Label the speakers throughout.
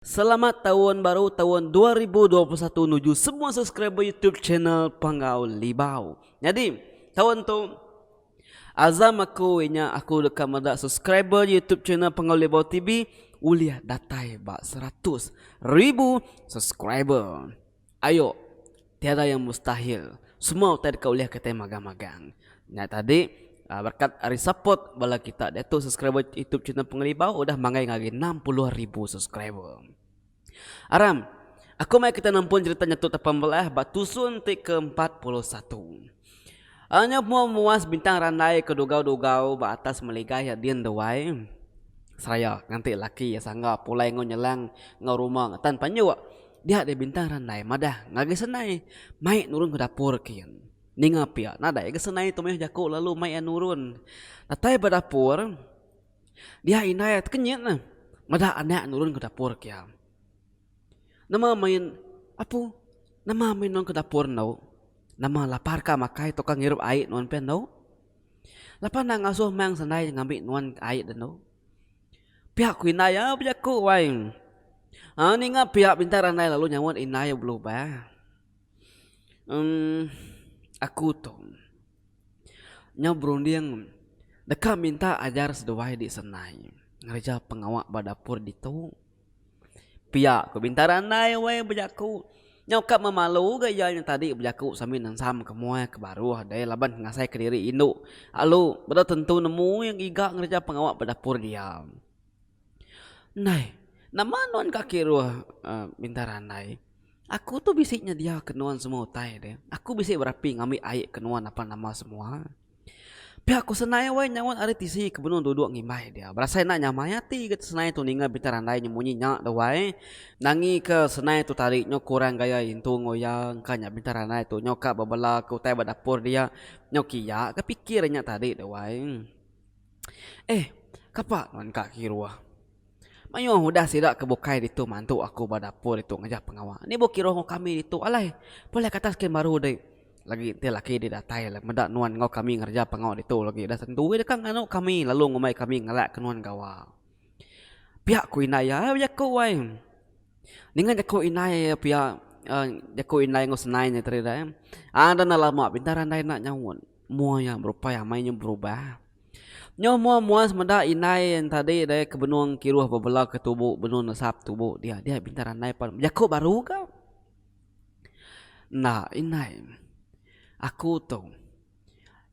Speaker 1: Selamat taun baru taun dua ribu dua puluh satu nuju semua subscriber YouTube channel Panggau Libau. Nyadi taun tu azam aku inya aku deka meda subscriber YouTube channel Panggau Libau TV ulih datai ba seratus ribu subscriber. Ayo, tiada yang mustahil. Semua utai deka ulih kitai magang-magang. Nya tadi berkat ari support bala kita diatu subscriber youtube channel Pengelibau udah manggai ngagai enam puluh ribu subscriber. Aram, aku mai kita nempun cherita nya tu tapan belah ba tusun ti ke empat puluh satu. Anyap mua muas bintang randai ke dugau-dugau ba atas meligai iya din duai seraya nganti laki iya sangga pulai enggau nyelang enggau rumah enggau tan panjuk. Dia deh bintang randai madah ngagai senai mai nurun ke dapur kin. Ninga pia nadai ga senai tu meh jaku lalu mai iya nurun. Datai ba dapur dia indai tekenyit neh meda anak nurun ke dapur kia. Nama main apu nama main nuan ke dapur endo nama lapar ka makai tau ka ngirup ai nuan pen endo lapan enda ngasuh meng sendai ngambi nuan ai de endo pia ku indai iya bejaku wai aaa ninga pia bintang randai lalu nyauan indai iya belubang emm aku tu nyau berunding deka minta ajar seduai di sendai ngereja pengawa ba dapur ditu. Pia ku Bintara andai weh bejaku. Nyau ka memalu ga iya nya tadi bejaku sambil nensam ke muai ke baruh deh laban ngasai ke diri indu alu beda tentu nemu iya ngiga ngereja pengawa ba dapur dia. Ndai nama nuan ka kiruh uhh Bintara andai. Aku tu bisi nyedia ke nuan semua utai deh. Aku bisi berapi ngambi ai ke nuan apan nama semua. Pia ku senai wai nyaut ari tisi ke benung duduk ngimbai dia. Berasai enda nyamai ati ga senai tu ninga bintang randai nyemunyi nya deh wai. Nangi ke senai tu tadi nyau kurang gaya intu enggau iya engka nya bintang randai tu nyau ka bebela ke utai ba dapur dia. Nyau ke iya ga pikir nya tadi deh wai. Eh kapa nuan ka kiruh. Mayuh udah sida ke bukai ditu mantu aku ba dapur ditu ngejah pengawa. Ni bu kiruh enggau kami ditu alai. Pelai katas kain baru deh. Lagi enti laki deh datai alai meda nuan enggau kami ngereja pengawa ditu lagi udah tentu deh ka nganu kami lalu ngumbai kami ngelak ke nuan gawa. Pia ku indai iya ai bejaku ai. Ninga jaku indai pia jaku indai enggau senai nya tadi deh. Ada enda lama bintang randai enda nyaut. Mua iya berupai amai nya berubah. Nyau mua mua semeda indai tadi deh ke benung kiruh bebelau ke tubu benung nesap tubu dia dia bintang randai pan bejaku baru ga. Enda indai aku tu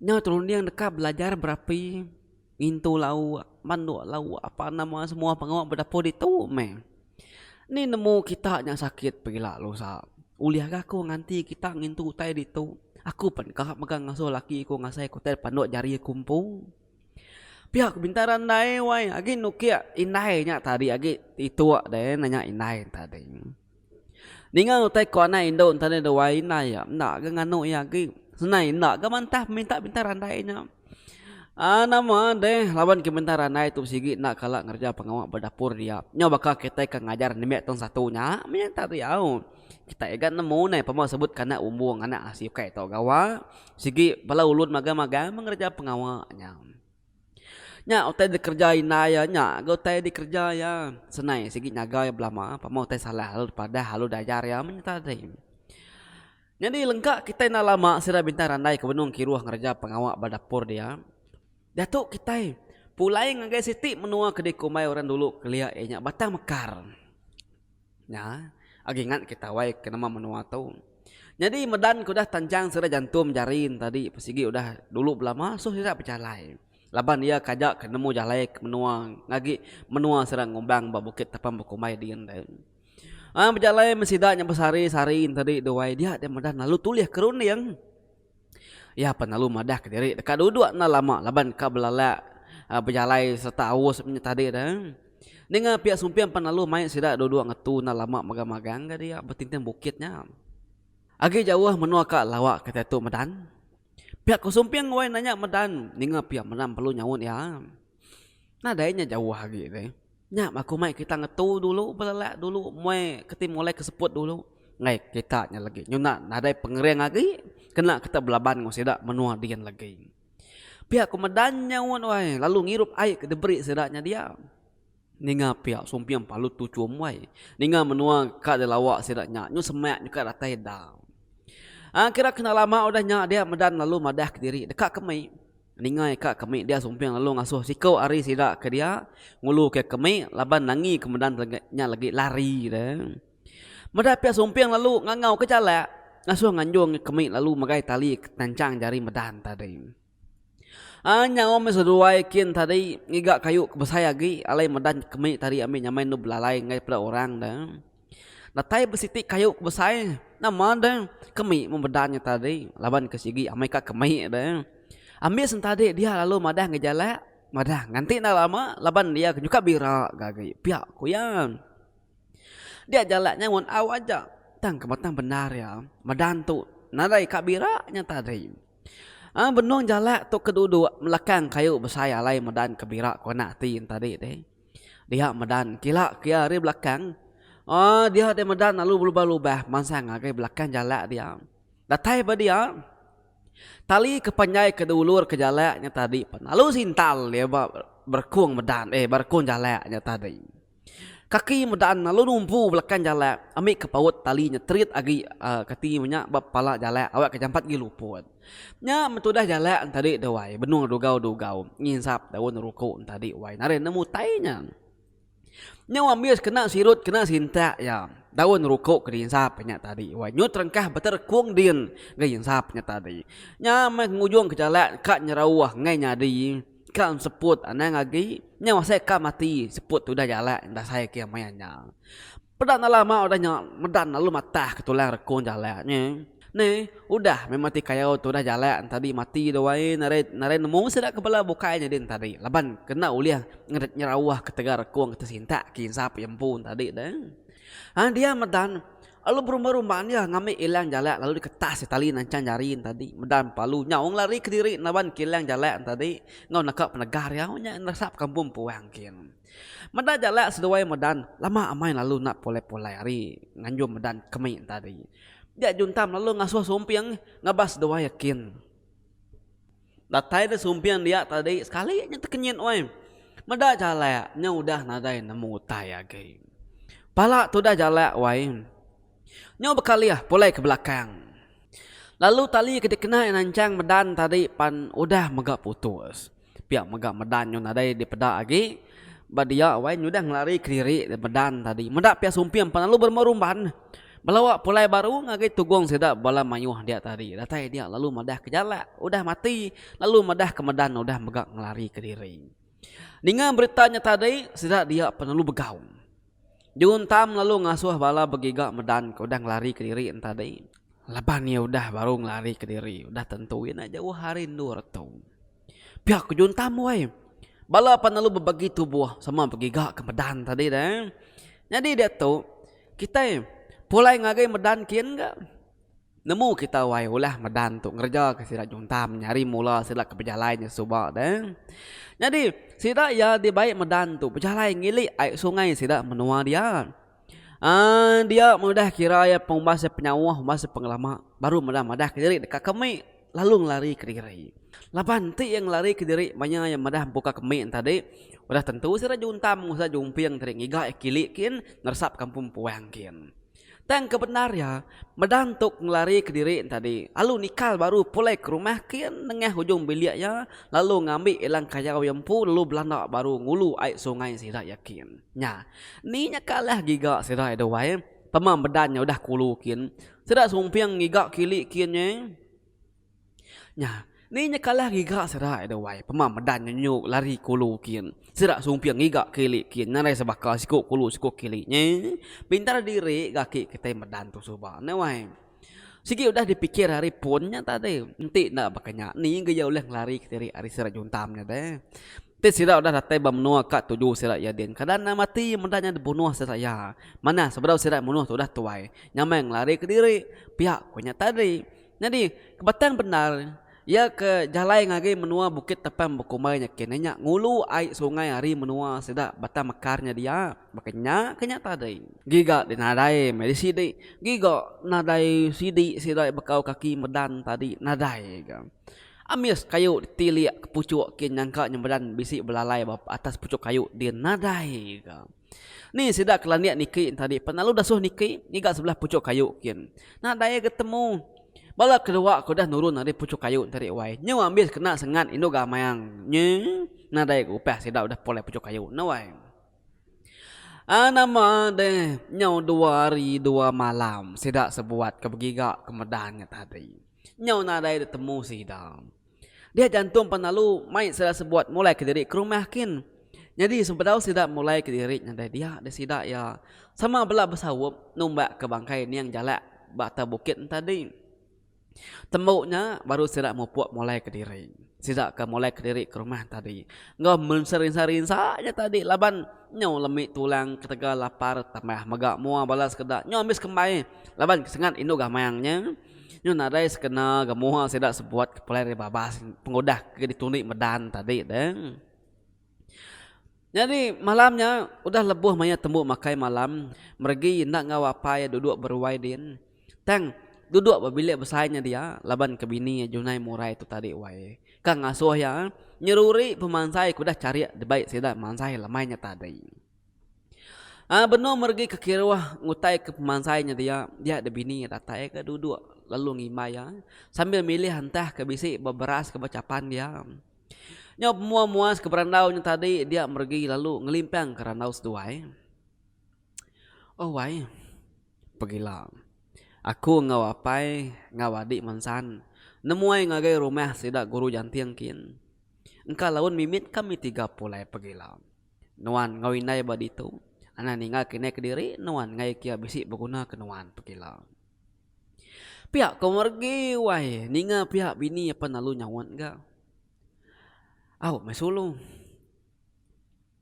Speaker 1: nyau terunding deka belajar berapi. Ngintu lauk, manduk lauk apa nama semua pengawa bedapur ditu meh. Ni nemu kita nya sakit pila lu sa. Ulih ga aku nganti kita ngintu utai ditu. Aku pen ka mega ngasuh laki ku ngasai ku utai panduk jari aku empu. Pia ku bintang randai wai agi nukik indai nya tadi agi itu deh nanya indai tadi. Ninga utai ko anai indu ntah deh wai indai iya enda ga nganu iya agi senai enda ga mantah minta minta randai nya aaa nama deh laban ke minta randai tu sigi enda kala ngereja pengawa ba dapur dia nyau baka kitai ke ngajar nembe tong satu nya meh enta diau kitai ga nemu neh pemau sebut ke anak umbung anak asi ukai tau gawa sigi bala ulun magang magang meh ngereja pengawa nya. Nya utai dikereja indai iya nya ga utai dikereja iya senai sigi nyaga iya belama pemau utai salah lalu dipadah lalu diajar iya meh nya tadi. Nyadi lengka kitai enda lama sida bintang randai ke benung kiruh ngereja pengawa ba dapur dia, diatu kitai pulai ngagai siti menua ke dikumbai orang dulu kelia iya nya Batang Mekar. Nya agi ngat ke tawai ke nama menua tu. Nyadi medan ke udah tanjang sida jantum jari ne tadi pe sigi udah dulu belama soh sida bejalai laban iya kaja ke nemu jalai ke menua ngagi menua sida ngumbang ba Bukit Tapang Bekumbai din deh. Ai bejalai me sida nya besari-sari ne tadi duai dia deh medan lalu tulih ke runding. Iya pan lalu madah ka diri deka duduk enda lama laban ka belalak bejalai serta aus inya tadi tu. Ninga piak sumping pan lalu mai sida duduk ngetu enda lama magang-magang ga dia betinting bukit nya. Agi jauh menua ka lawa ka diatu medan. Piak ko sumping wai nanya medan ninga piak medan perlu nyaut iya. Nadai nya jauh agi deh. Nya ba kumai kita ngetu dulu belelak dulu meh keti mulai ke seput dulu ngai kita nya legi nyuna nadai pengering agi kena kita belaban enggau sida menua din legi. Pia ku medan nya un wai lalu ngirup ai ke diberi sida nya dia ninga pia sumping palut tu chum wai ninga menua ka di lawa sida nya nyu semak nyu ka datai da. Ai kira kena lama udah nya dia medan lalu madah kediri deka ke mei. Ningai ka kami dia sumping lalu ngasuh siku ari sida ke dia ngulu ke kami laban nangi ke medan nya lagi lari dia. Meda pia sumping lalu ngangau ke jalak ngasuh nganjung ke kami lalu megai tali tanchang jari medan tadi. Ai nyaum meh seduai kin tadi ngiga kayu ke besai agi alai medan kami tadi ami nyamai endu belalai enggau peda orang da. Datai besiti kayu ke besai nama deh kemi membeda nya tadi laban ke sigi amai ka kemi deh ambi sentadi dia lalu madah ngejalak madah nganti enda lama laban dia ke nyuka bira ke agi pia ku iya dia jalak nya ngan au aja tang ke batang bendar iya medan tu nadai ka bira nya tadi a benung jalak tu ke duduk melakang kayu besai alai medan ke bira ke ngena ati tadi deh. Diha medan kila kia ari belakang Oh diha deh medan lalu belubah-lubah mansang ngagai belakang jalak dia. Datai ba dia tali ke panjai ke diulur ke jalak nya tadi pan lalu sintal dia ba berekong medan eh ba berekong jalak nya tadi. Kaki medan lalu numpu belakang jalak ambika paut tali nya terit agi kati inya ba pala jalak awakka jampat gi luput. Nya metudah jalak entadi tu wai benung dugau dugau nginsap daun ruku entadi wai naren nemu tai nya. Nyau ambis kena sirut kena sintak ya daun ruku ke diinsap nya tadi wai nyut rengkah beterekung din ga insap nya tadi. Nya meh ngujung ke jalak ka nyerau enggai nyadi ka enseput anang agi nyau asai ka mati seput tudah jalak dasai ke maya nya. Peda enda lama udah nya medan lalu matah ke tulang rekung jalak nya. Ni, udah meh mati kayau tudah jalak entadi mati dua ai narai narai nemu sida ke bela bukai nyadi entadi laban kena ulih ngered nyeraoh ketegal rekung ke tesintak ke insap iya empu entadi deh. Hang dia medan lalu berumba rumba dia ngambi ilang jalak lalu diketas tali nancang jari entadi medan palu nyaung lari kediri laban kilang jalak entadi enggau neka penegah riau nya nerasap kampung puang kin. Meda jalak seduai medan lama amai lalu enda pulai-pulai ari nganjung medan kemik enta ari. Dia Juntam lalu ngasuh Sumping ngabas seduai a kin. Datai deh Sumping dia tadi sekali nya tekenyit weh. Meda jalak nya udah nadai nemu utai agi. Pala tudah jalak wai. Nyu bekalih pulai ke belakang. Lalu tali ke dikena iya nanchang medan tadi pan udah mega putus. Pia mega medan nyu nadai dipeda agi ba dia wai nyu udah ngelari kediri medan tadi. Meda pia sumping pan lalu berumah rumban belawa pulai baru ngagai tugong sida bala mayuh dia tadi. Datai dia lalu madah ke jalak udah mati lalu madah ke medan udah mega ngelari kediri. Ninga berita nya tadi sida dia pan lalu begau. Diuntam lalu ngasuh bala begiga medan ke udah ngelari kediri entadi. Laban iya udah baru ngelari kediri, udah tentu iya enda jauh ari endur tu. Pia ku Juntam weh. Bala pan lalu bebagi tubuh sama begiga ke medan tadi deh eh. Nyadi diatu kitai pulai ngagai medan kin ga. Nemu kita wai ulah medan tu ngereja ke sida nyuntam nyari mula sida ke bejalai nya suba de. Nyadi sida iya dibai medan tu bejalai ngilik ai sungai sida menua dia. Aaa dia udah kira iya pengumbas iya penyauh umbas iya pengelama baru meda madah kediri deka ke mik lalu ngelari kediri. Laban ti iya ngelari kediri maya iya meda mpuka ke mik tadi udah tentu sida nyuntam usa jumping tadi ngiga iya kilik kin neresap kampung puang kin. Tang ke bendar iya, meda entuk ngelari kediri entadi, lalu nikal baru pulai ke rumah kin nengah ujung bilik iya lalu ngambi ilang kayau iya empu lalu belanda baru ngulu ai sungai sida iya kin. Nya, ni nya kalah giga sida iya duai, pema medan nya udah kulu kin. Sida sumping ngiga kili kin nyai. Nya, ni nyekalah ngiga sera ai deh wai, pema medan nyenyuk lari kulu kin. Sera sumping ngiga kili kin nyarai sebaka siku kulu siku kili nya. Pintar diri ga aki kitai medan tu suba ne wai. Sigi udah dipikir ari pun nya tadi, enti enda baka nya ni ga iya ulih ngelari kediri ari sera juntam nya deh. Ti sida udah datai ba menua ka tuju sida iya din, kada enda mati medan nya dibunuh sida iya. Manah sebedau sida munuh tu udah tuai, nyamai ngelari kediri pia ku nya tadi. Nyadi, kebatan bendar iya ke jalai ngari menua Bukit Tapang bekumbai nya kini nya ngulu ai sungai ari menua sida Batang Mekar nya dia, baka nya ke nya tadi. Giga deh nadai meh di sidi, giga nadai sidi sida iya bekau kaki medan tadi nadai ga. Amis kayu di tilik ke puchuk ke nyangka nya medan bisi belalai ba atas puchuk kayu di nadai ga. Ni sida ke landik niki entadi pan lalu dasuh niki ngiga sebelah puchuk kayu kin. Nadai agi temu. Bala kedua ke udah nurun ari puchuk kayu entadi wai. Nyu ambis kena sengat indu gamang nyi nadai ga upah sida udah pulai puchuk kayu enda wai. Ai nama deh nyau dua hari dua malam sida sebuat ke begiga ke medan nya tadi. Nyau nadai ditemu sida. Dia jantung pan lalu mai sida sebuat mulai kediri ke rumah kin. Nyadi sebedau sida mulai kediri nyadai dia deh sida iya sama bela besaup numbak ke bangkai ning jalak ba atas bukit entadi. Tembu nya baru sida mupuk mulai kediri. Sida ke mulai kediri ke rumah entadi enggau men serinsa-rinsa nya tadi laban nyau lemi tulang ketegal lapar tambah mega mua bala sekeda nyau ambis kembai laban kesengat indu gamang nya. Nyu nadai sekena ga muha sida sebuat ke pelai ari babas pengudah ke ditundi medan tadi te. Nyadi malam nya udah lebuh maya tembu makai malam meregi enda enggau apai iya duduk beruai din tang duduk ba bilik besai nya dia laban ke bini iya Junai Murai tu tadi wai ka ngasuh iya nyeruri pemansai ke udah charik dibai sida mansai lemai nya tadi. Ai benung meregi ke kiruh ngutai ke pemansai nya dia, dia da bini iya datai ka duduk lalu ngimbai iya sambil milih entah ke bisi ba beras ke ba chapan dia. Nyau pemua muas ke berandau nya tadi dia meregi lalu ngelimpang ke randau seduai. Oh wai pegila aku enggau apai enggau adi mensan nemuai ngagai rumah sida guru janting kin engka laun mimit kami tiga pulai pegila. Nuan enggau indai ba ditu. Anang ninga ke indai kediri nuan engai kia bisi beguna ke nuan pekila. Pia ko Mergi wai ninga pia bini apan lalu nyaut ga. Au meh sulu.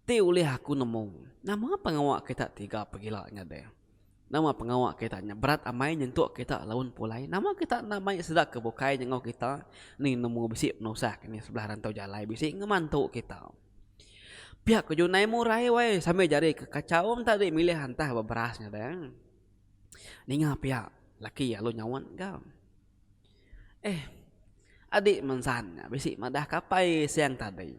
Speaker 1: Ti ulih aku nemu nama pengawa kita tiga pekila nyadi. Nama pengawa kita nya berat amai nyentuk kita lalu pulai. Nama kita enda mai sida ke bukai enggau kita ni nemu bisi penusah ke ni sebelah rantau jalai bisi ngemantu kita. Pia ke Junai Murai wai sambil jari ke kachau tadi milih antah ba beras nya deh. Ninga pia laki lalu nyaut ga. Eh adi mensan nya bisi madah ke apai siang tadi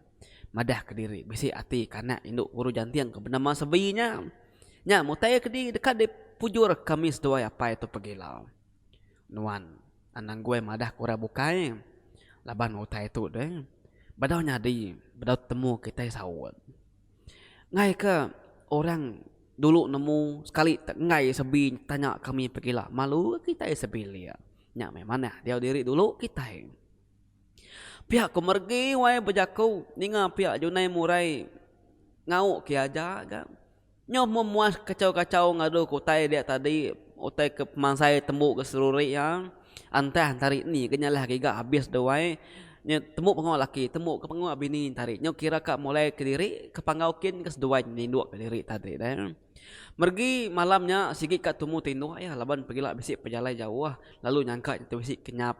Speaker 1: madah kediri bisi ati ke anak indu Guru Janting ke benama Sebi nya. Nya mutai ke deka dipujur ke ami seduai apai tu pegila. Nuan anang guai madah ku orang bukai laban utai tu deh bedau nyadi bedau temu kitai saut. Enggai ke orang dulu nemu sekali te enggai sebi tanya kami pegila malu ke kitai sebilik nya meh manah diau diri dulu kitai. Pia ku meregi wai bejaku ninga pia Junai Murai ngau ke aja ga. Nyau memuas kachau-kachau ngaduka utai dia tadi, utai ke pemansai tembu ke seruri iya, antah entari ni ke nyalah giga habis deh wai, nya tembu pengawa laki tembu ke pengawa bini entari nyau kira ka mulai kediri ke panggau kin ke seduai ninduk kediri tadi deh. Meregi malam nya sigi ka tumu ti indu iya laban pegila bisi pejalai jauh lalu nyangka tu bisi kenyap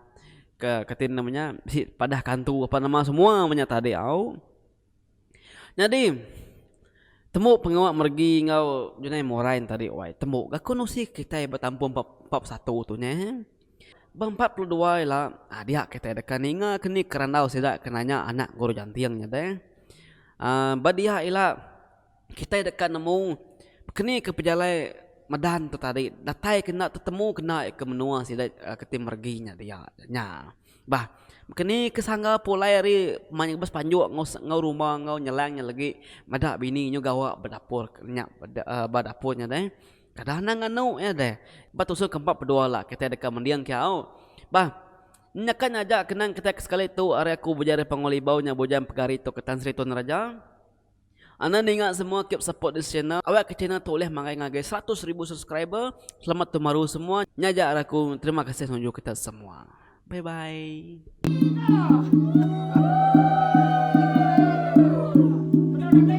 Speaker 1: ke kati nama nya bisi padah kantu apan nama semua menya tadi au. Nyadi, tembu pengawa meregi enggau Junai Morain nya tadi wai tembu gaku ne usi kitai betampung ba empat pesatu tu nya eh. Ba empat puluh dua ila dia kitai deka ninga ke ni ke randau sida ke nanya anak Guru Janting nya deh. uhh ba dia ila kitai deka nemu ke ni ke pejalai medan tu tadi datai ke enda tetemu ke enda ke menua sida ke ti meregi nya dia nya. Bah, keni ke sangga pulai ari pemain ngebes panjuk enggau enggau rumba enggau nyelang nya legi meda bini nyu gawa ba dapur nya ba dapur nya deh. Kada anang nganu iya deh. Ba tusung ke empat bedua la kitai deka mending ke au. Bah, nyakat nya aja kenang kitai ke sekali tu ari aku Bujang Ripangau Libau nya Bujang Pegari Tok Ketan Sri Tun Raja. Anda ninga semua keep support this channel awak ke channel tu ulih marai ngagai seratus ribu subscriber selamat tahun baru semua nya ja ari aku terima kasih nunjuk kita semua bye bye.